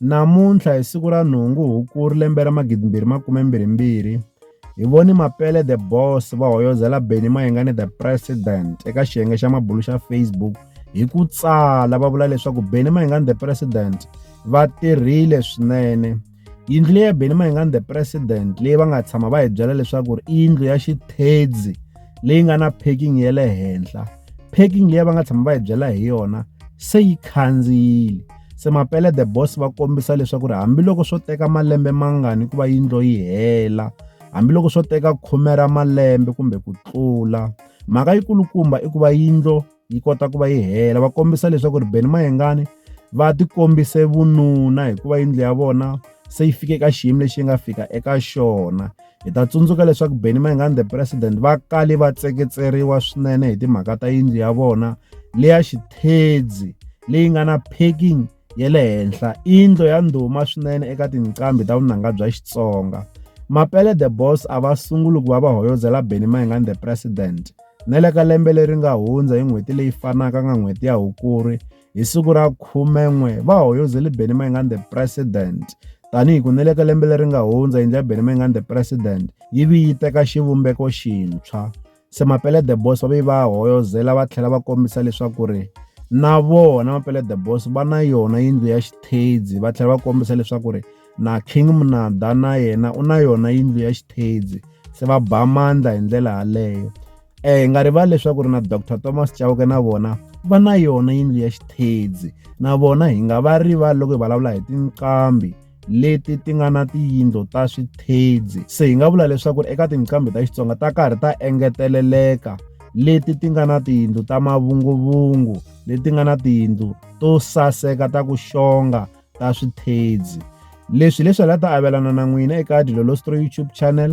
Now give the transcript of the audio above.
Namuntlha hi siku ra nhungu Hukuri lembe ra 2022, hi vone Mapele the Boss va hoyozela Benny Mayengani the President eka xiyenge xa mabulu xa Facebook hi ku tsala va vula leswaku Benny Mayengani the President va tirhile swinene. Yindlu leyi ya Benny Mayengani the President leyi va nga tshama va hi byela leswaku i yindlu ya xithedzi leyi nga na parking ya le henhla parking leyi va nga tshama va hi byela hi yona se yi khandziyile. Se Mapele the Boss va kombisa leswaku ri hambiloko swo teka malembe mangani ku va yindlo yi hela, hambiloko swo teka khume ra malembe kumbe ku tlula, mhaka yi kulukumba i ku va yindlo yi kota ku va yi hela. Va kombisa leswaku ri Benny Mayengani va ti kombise vununa hikuva yindlu ya vona se yi fike ka xiyimo lexi yi nga fika eka xona. Hi ta tsundzuka leswaku Benny Mayengani the president va kale va tseketseriwa swinene hi timhaka ta yindlu ya vona leya xithedzi leyi nga na packing ya le henhla indlo ya ndhuma swinene eka tinqambi ta vunanga bya Xitsonga Mapele the Boss a va sunguli ku va va hoyozela Benny Mayengani the President na le ka lembe leri nga hundza hi n'hweti leyi fanaka nga n'hweti ya Hukuri Hi siku ra 11 va hoyozele Benny Mayengani the President tanihi ku neleka lembe leri nga hundza yindlu ya Benny Mayengani the President yi vi yi teka xivumbeko xintshwa. Se Mapele the Boss va ve va hoyozela va tlhela va kombisa leswaku ri na vona Mapele the Boss va na yona yindlu ya xithedzi va tlhela va kombisa leswaku ri na King Munada na yena u na yona yindlu ya xithedzi se va ba mandla hi ndlela yaleyo. um hi nga rivali leswaku ri na dr thomas chauke na vona va na yona yindlu ya xithedzi na vona hi nga va rivali loko hi vulavula hi tinqambi leti ti nga na tiyindlo ta swithedzi se hi nga vula leswaku ri eka tinqambi ta xitsonga ta karhi ta engeteleleka leti ti nga na tiyindlu ta mavunguvungu leti nga na tiyindlu to saseka ta ku xonga ta swithedzi leswi leswi la ta avelana na n'wina eka dilolostro youtube channel